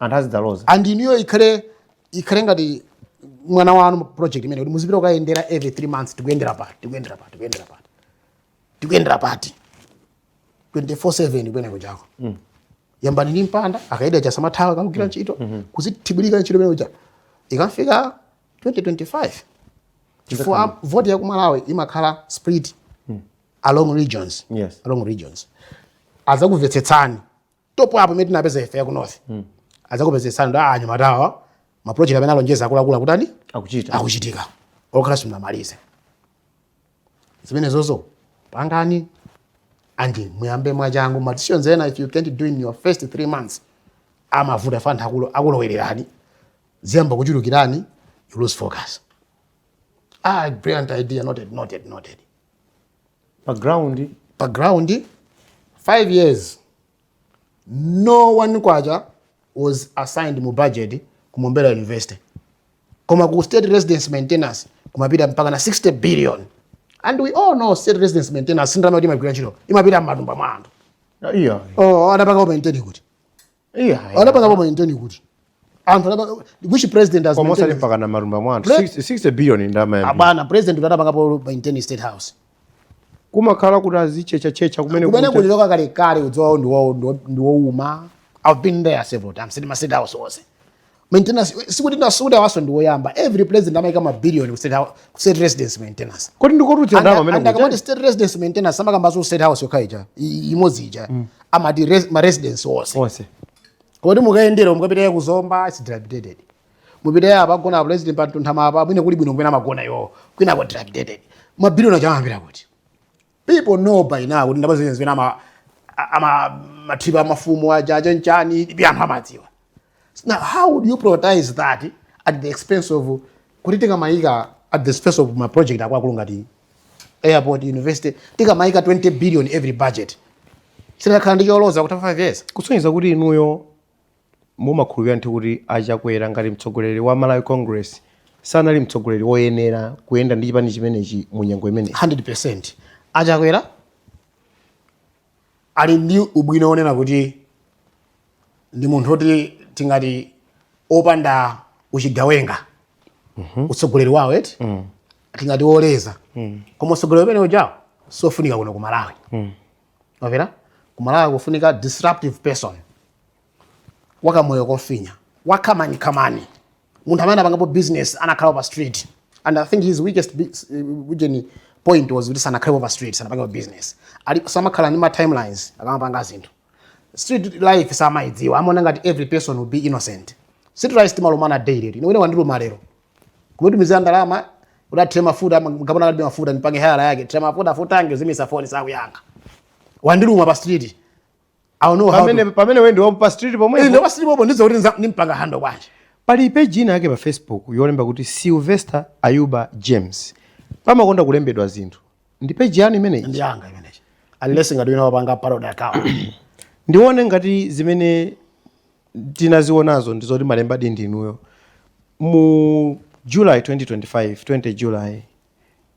S1: anthu azidzaloza and inuyo
S2: ikhale ikhale ngati mwana wanu project imeneyo kuti muzipita kukayendera every three months tikuyendera pati tikuyendera pati tikuyendera pati tikuyendera pati 24/7 kumene kujako mm. yambani ndi mpanda akaida aja asamathawe kakugwira mm. ntchito mm -hmm. kuzithibulika ntchito imene kuja ikafika 2025 chifukwa voti ya ku Malawi imakhala split mm. along regions yes. along regions azakumvetsetsani top up imene tinapeza ife ya ku north mm. adzakumvetsetsani kuti anyamatawa maprojekti amene analonjeza akuluakulu akutani akuchita akuchitika ngakhale simunamalize zimenezozo pangani and muyambe mwachangu ma decisions ena if you can't do in your first three months amavuta chifukwa anthu akulo- akulowererani ziyamba kuchulukirani you lose focus ah brilliant idea noted noted noted pa ground pa ground 5 years no one kwacha was assigned mu budget ku Mombera University koma ku state residence maintenance kumapita mpaka na 60 billion and we all know state residence maintenance si ndalama kuti imagwira ntchito imapita m'matumba mwa anthu iya oh anapanga comment-di kuti yeah, anapanga po maintain kuti anthu anapanga which president has almost mpakana marumba
S1: mwantu 60 billion ndalama zambiri abana president
S2: anapangapo maintain state house
S1: kumakhala kuti azichecha checha kumene kumene kuli loka kale
S2: kale udziwawo ndi wawo ndi wouma i've been there several times mu ma state house onse maintenance sikuti sikuti awanso ndi woyamba every president amaika ma billion ku state house ku state residence maintenance kodi ndikoti ndalama
S1: zimene zakama state residence
S2: maintenance samakamba za state house yokha ija imodzi ija mm. amati res, ma residence onse onse kodi mukayendera mukapita ku Zomba it's dilapidated mupita apa pogona president pa Mtunthama apa mwina kuli bwino kumene amagona iwo kwina kwa dilapidated ma billion aja amapita kuti People know by now kuti ndalama zimene zimene ama a- amalipa mafumu aja aja nchani pya anthu amadziwa. Now how would you prioritize that at the expense of kuti tikamayika at the expense of ma project akulu ngati airport university tikamayika 20 billion every budget. Sinakhale ndi choloza kutha 5 years. kusonyeza kuti inuyo
S1: Mumakhulupilira ndithu kuti a Chakwera ngati mtsogoleri wa Malawi Congress sanali mtsogoleri woyenera kuyenda ndi chipani chimenechi mu nyengo imeneyi? 100%
S2: a Chakwera ali ndi ubwino wonena kuti ndi munthu woti tingati opanda uchigawenga utsogoleri wawo eti tingati woleza koma utsogoleri umene uja siofunika kuno ku Malawi. ku Malawi kufunika disruptive person wakamoyo kofinya wamakani makani munthu amene anapangapo business anakhala pa street and i think his weakest bi- s- uh, ujeni point was kuti sanakhalepo pa street sanapangapo business ali samakhala ndi ma timelines akamapanga zinthu street life samaidziwa amaona ngati every person will be innocent street life timalumana daily ine wina wandiluma lero kumutumizira ndalama kuti athire mafuta kapena alibe mafuta ndipange hire yake thira mafuta azimitsa foni sakuyankha wandiluma pa street I know how to- pamene wendi wapo pa street
S1: pomwe Eh, ndi pa street pomwe ndizoti nza-
S2: ndimpanga handle bwanji pali page ina
S1: yake pa facebook yolemba kuti sylvester ayuba james pamakonda kulembedwa zinthu ndi page yanu imeneyi ndiyanga
S2: imeneyi unless ngati wina wapanga parody account ndione
S1: ngati zimene tinazionazo ndi zoti munalembadi ndi inuyo mu july 2025 20 july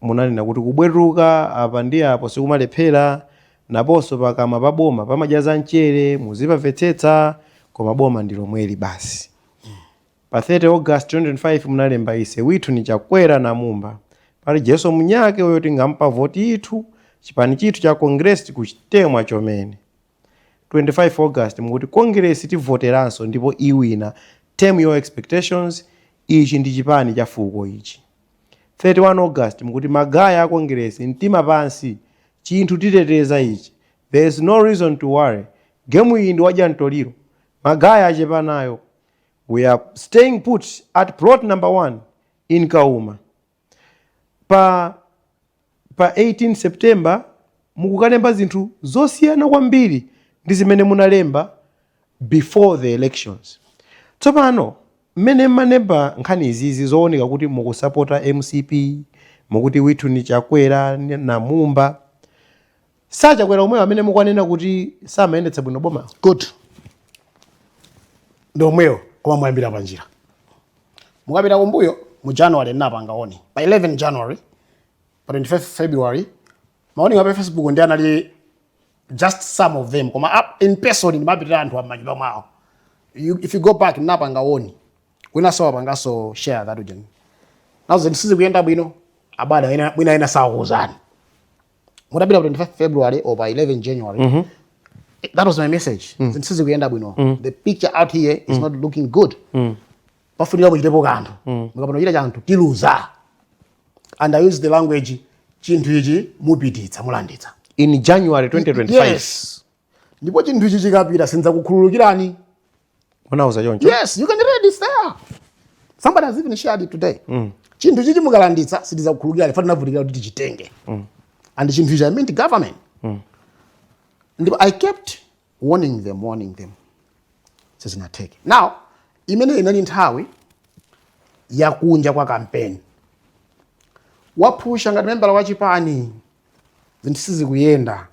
S1: munanena kuti kubwetuka apa ndi apo sikumalephera nkaponso pakamwa pa boma pamadya za mchere muzipamvetsetsa koma boma ndi lomweli basi pa 30 august 2025 munalemba ise withu ni chakwera na mumba pali jeso mnyake uyo tingampa voti ithu chipani chithu cha congress kuchitemwa chomene 25 August mukuti Kongilesi tivoteranso ndipo iwina, tame your expectations, ichi ndi chipani cha fuko ichi. 31 August mukuti magaye a Kongilesi mtima pansi chinthu titeteza ichi there is no reason to worry game iyi ndi wadya ntoliro magaye achepa nayo we are staying put at plot number 1 in Kauma. pa 18 September mukukalemba zinthu zosiyana kwambiri ndi zimene munalemba before the elections. Tsopano mmene mumalemba nkhani izizi zooneka kuti mukusapota mcp mukuti withu ni chakwera ni na Mumba a Chakwera omwewo amene mukwanena kuti samayendetsa bwino boma
S2: good ndi omwewo koma mwayambira panjira mukapita kumbuyo mu january ndinapanga warn pa 11 january pa 25 february ma warning a pa facebook ndiye anali just some of them koma up in person ndimapitira anthu m'manyumba mwawo you, if you go back ndinapanga warn winanso wapanganso share that again kuti zinthu sizikuyenda bwino abada mwina ena sakuuzani mutapita pa 25 february or pa 11 january mm -hmm. that was my message mm. zinthu sizikuyenda bwino mm. the picture out here is mm. not looking good mm. pafunika kuchitepo kanthu mm. mukapanda kuchita chanthu tiluza and i used the language chinthu ichi mupititsa mulanditsa in january 2025
S1: yes
S2: ndipo chinthu ichi chikapita sindidzakukhululukirani Munawauza
S1: choncho? Yes, you can read
S2: it's there. Somebody has even shared it today. Mm. Chinthu ichichi mukalanditsa sitidzakukhululukirani ife tinavutikira kuti tichitenge. Mm. And chinthu ichi I meant government. Mm. Ndipo I kept warning them, warning them. Sizinatheke. Now, imene inali nthawi ya kunja kwa kampeni. Wapusha ngati membala wa chipani zinthu sizikuyenda.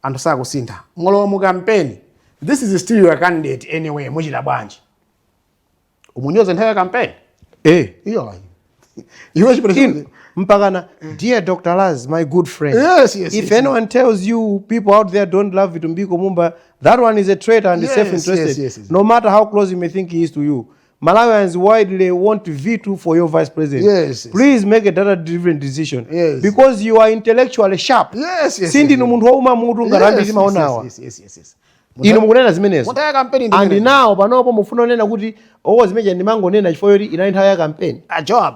S2: anthu sakusintha mwalowa mu campaign this is still your candidate anyway muchita bwanji umunyoze nthawi ya campaign eh iyo ayi iwe chipelekeni mpakana
S1: dear dr laz my good friend yes, yes, if yes, anyone tells you people out there don't love vitumbiko mumba that one is a traitor and yes, self interested yes, yes, yes. no matter how close you may think he is to you Malawians widely want Vitu for your vice president. Yes. Please make a data driven decision. Yes. Because you are intellectually sharp. Yes, yes. Sindinu yes, munthu wouma mutu ngati ambiri timawaonawa. Yes, yes, yes, yes. Inu mukunena zimenezo. Munthawi ya kampeni ndi. And now panopo mufuna munene kuti owo oh, zimene zija ndimangonena chifukwa choti inali nthawi ya kampeni. A ah, Joab.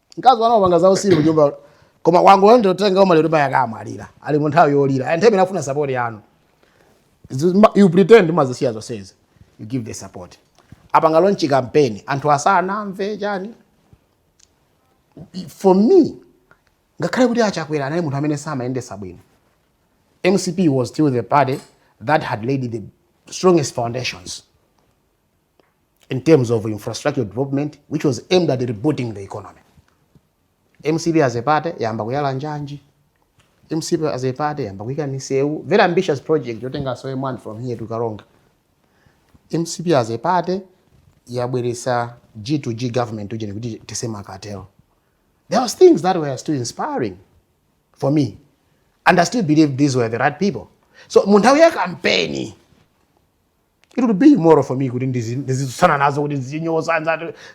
S2: mkazi wanu wapanga zausiru kunyumba koma wangu ndiye wotenga ma maliro paja akamalira ali munthawi yolira and time imene afuna support yanu you pretend mumazisiya zonsezi you give the support apanga launch campaign anthu asanamve chani for me ngakhale kuti achakwera anali munthu amene samayendetsa bwino mcp was still the party that had laid the strongest foundations in terms of infrastructure development which was aimed at rebooting the economy mcp as a party yayamba kuyala njanji mcp as a party yayamba kuyika misewu very ambitious project yotenga soye man from here to karonga mcp as a party yabweresa g to g government ujeni kuti tese makatelo there was things that were still inspiring for me and i still believe these were the right people so mu nthawi ya kampeni it would be immoral for me kuti ndizitsutsana nazo kuti ndizichinyoza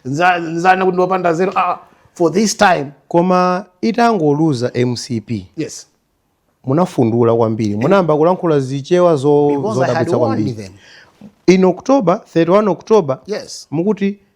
S2: nzana kuti ndiopanda zero ah, ah, for this time koma
S1: itangoluza mcp yes
S2: munafundula
S1: kwambiri munayamba kulankhula zichewa zodabwitsa kwambiri in october 31 october yes mukuti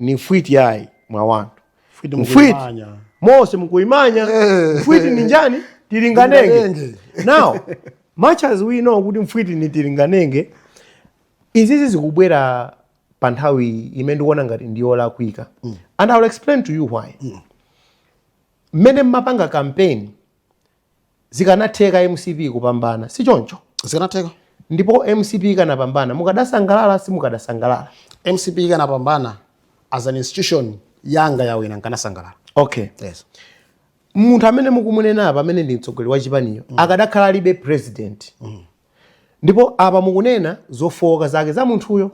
S1: ni mfwiti yayi mwa wantu mfwiti, mfwiti.
S2: mose
S1: mukuimanya eh. mfwiti ni njani tilinganenge now much as we know kuti mfwiti ni tilinganenge izizi zikubwera pa nthawi imene ndikuona ngati ndiyolakwika mm. and iwill explain to you why mm. mmene mm. mmapanga kampeni Zikanatheka mcp kupambana sichoncho? Zikanatheka.
S2: Ndipo mcp
S1: ikanapambana mukadasangalala simukadasangalala? Mcp ikanapambana
S2: as an institution yanga yawina nkanasangalala. Okay. Yes. Munthu
S1: amene mukumunena apa amene ndi mtsogoleri wachipaniyo mm. akadakhala alibe president mm. ndipo apa mukunena zofooka zake za munthuyo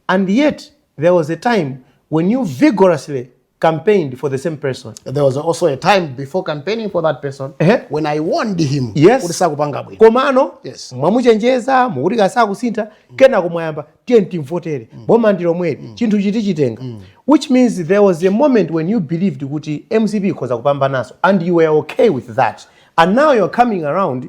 S1: and yet there was a time when you vigorously campaigned for the same person there was also a time
S2: before campaigning for that person Ehe. when i warned him Yes. kuti sakupanga bwino komano
S1: Yes.
S2: mwamuchenjeza
S1: mukuti kasakusintha kenako mwayamba tiyeni timvotere boma ndi lomweli chinthu chiti chitenga which means there was a moment when you believed kuti mcp ikhoza kupambanaso and you were okay with that and now you are coming around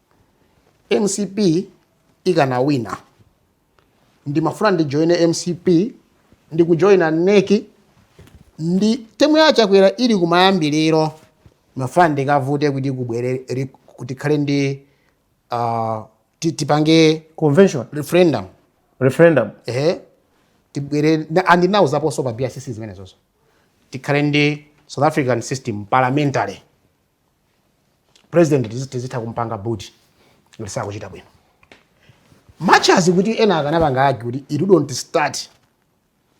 S2: mcp ikanawina ndimafuna ndijoine mcp ndikujoina next ndi temu ya chakwera ili kumayambiriro ndimafuna ndikavute kuti kubwere ri- tikhale ndi uh, ti- tipange convention
S1: referendum referendum
S2: ehe tibwere na- andinauzaponso pa brcc zimenezozo tikhale ndi south african system parliamentary president tizi- tizitha kumpanga boot ngati sakuchita bwino much as kuti ena akanapanga argue kuti it don't start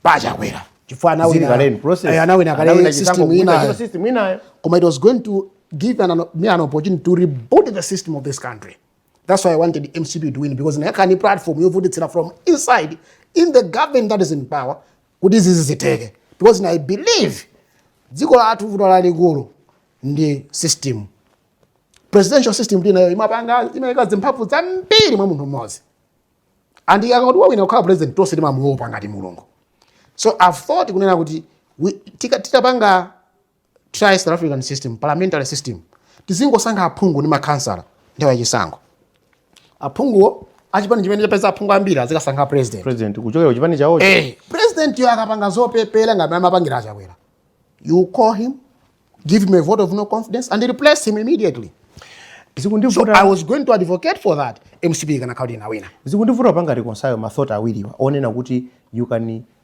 S2: pachakwera chifukwa anawina- Zili kaleni, process. eh, anawina Anawina kale chisankho system kuwina inayo chino system inayo. koma it was going to give an, me an opportunity to reboot the system of this country that's why i wanted mcp to win because ndikanakhala ndi platform yovutitsira from inside in the government that is in power kuti izizi zitheke because na i believe dziko lathu vuto lalikulu ndi system presidential system tili nayo imapanga imaika zimphamvu zambiri mwa munthu mmodzi and akangoti wawina kukhala president tonse timamuopa ngati mulungu so i've thought kunena kuti titapanga try South African system, parliamentary system. Tizingosankha aphungu ndi makhansala nthawi ya chisankho. Aphunguwo achipani chimene chapeza aphungu ambiri azikasankha president. President kuchokera kuchipani chawo. Eh,
S1: president yo
S2: akapanga zopepera ngati amapangira achakwera. You call him, give him a vote of no confidence and replace him immediately. Zikundivuta. So I was going to advocate for that. MCP ikanakhala kuti inawina. Zikundivuta panga reconcile
S1: mathought awiriwa onena kuti you can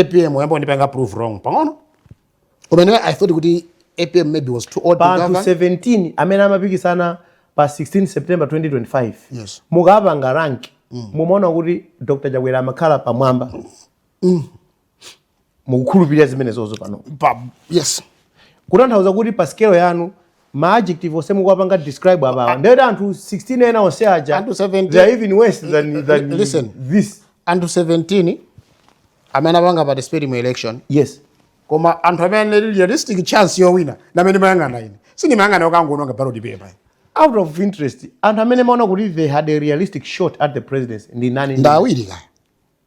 S2: apm yayamba kundipanga prove wrong pang'ono kumene i thought kuti apm maybe was too old pa anthu 17 amene amapikisana
S1: pa 16 september 2025 yes.
S2: mukapanga
S1: rank mm. mumaona kuti dr chakwera amakhala pamwamba mm. mukukhulupirira zimenezo pano pa, yes
S2: kutanthauza
S1: kuti pa sikelo yanu ma adjective onse mukuwapanga describe apawa ndeti anthu 16 ena onse aja anthu 17 they are even worse than, than listen this
S2: anthu
S1: 17
S2: amene apanga participate mu election yes
S1: koma
S2: anthu amene realistic chance yowina ndi amene ndimayang'ana ine sindimayang'ana okangononga ballot paper out of interest
S1: anthu amene ndimaona kuti they had a realistic shot at the presidency ndi nani ndi awiri kaya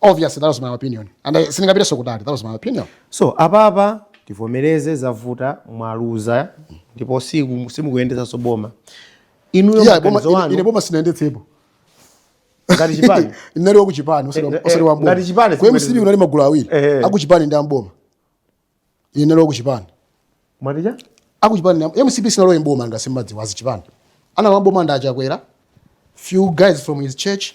S2: obviously that was my opinion and I sindingapitenso kutali that was my opinion so
S1: apapa tivomereze zavuta mwaluza ndipo siku- simukuyendetsanso boma inuyo Yeah, boma- maganizo ine- ine wanu boma sindinayendetsepo ngati chipani ndinali
S2: wakuchipani Eh, eh, ngati chipani, ngati chipani ku mcp kunali
S1: magulu awiri
S2: Eh, eh. akuchipani ndi amboma ine ndinali wakuchipani mwatija
S1: akuchipani
S2: na- mcp sinalowe mboma ngati simumadziwa azichipani analowa mboma ndi achakwera few guys from his church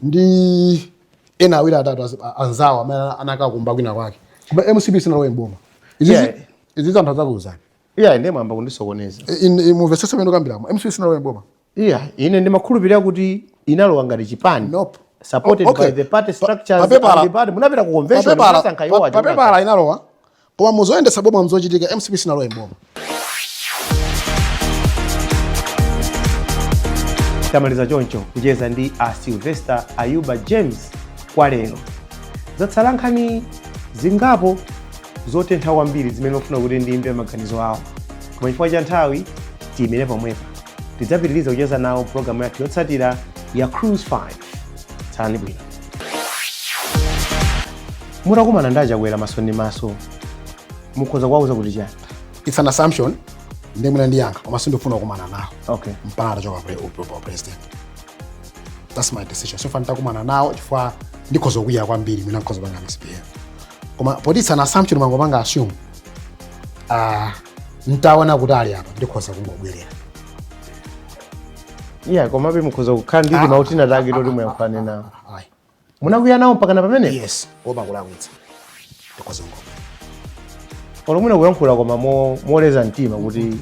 S2: ndi ena awiri atatu azi- a- anzawo amene ana- anakakumba kwina kwake koma mcp sinalowe mboma Yeah. izizi izizi anthu adzakuuzani iya ine mwayamba
S1: kundisokoneza mumvesese mmene
S2: ndikukambiramo mcp sinalowe mboma Yeah,
S1: ine ndimakhulupirira kuti inalowa ngati chipani Nope.
S2: supported O- okay. by
S1: the party Pa- structures papepala- and the party munapita ku convention papepala munasankha iwo pa- aja papepala
S2: inalowa koma muzoyendetsa boma mzochitika mcp sinalowe mboma
S1: tamaliza choncho kucheza ndi a sylvester ayuba james kwa lero zatsala nkhani zingapo zotentha kwambiri zimene ndimafuna kuti ndimve maganizo awo koma chifukwa cha nthawi tiyimire pomwepa tidzapitiriza kucheza nawo pulogalamu yathu yotsatira ya cruise 5 tsalani bwino mutakumana ndi achakwera maso ndi maso mukhoza kuwauza kuti chani it's an assumption
S2: ndiye mwina ndiyankha koma sindifuna kukumana nawo okay mpaka
S1: atachoka pre-
S2: u- u- president that's my decision sofuna nditakumana nawo chifukwa ndikhoza kukwiya kwambiri mwina ndikhoza kupanga misbehave koma poti it's an assumption mwangopanga assume Ah, ntaona kuti ali apa ndikhoza
S1: kungobwerera iya komabe mukhoza kukhala ndi timau tinatake toti muyankhulane nawo ayi munakwiya nawo mpakana pamenepo yes kuopa kulakwitsa
S2: ndikhoza kungobwerera
S1: olo mwina kuyankhula koma mo- moleza mtima kuti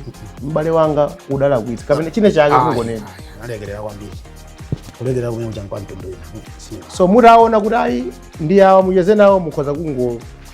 S1: m'bale wanga udalakwitsa kapena chine chake Ayi, kungonena ayi, analekerera kwambiri
S2: kulekerera kumeneko kuchani kwa mtundu wina Sina. so mutaona
S1: kuti ayi ndi awa mucheze nawo mukhoza kungo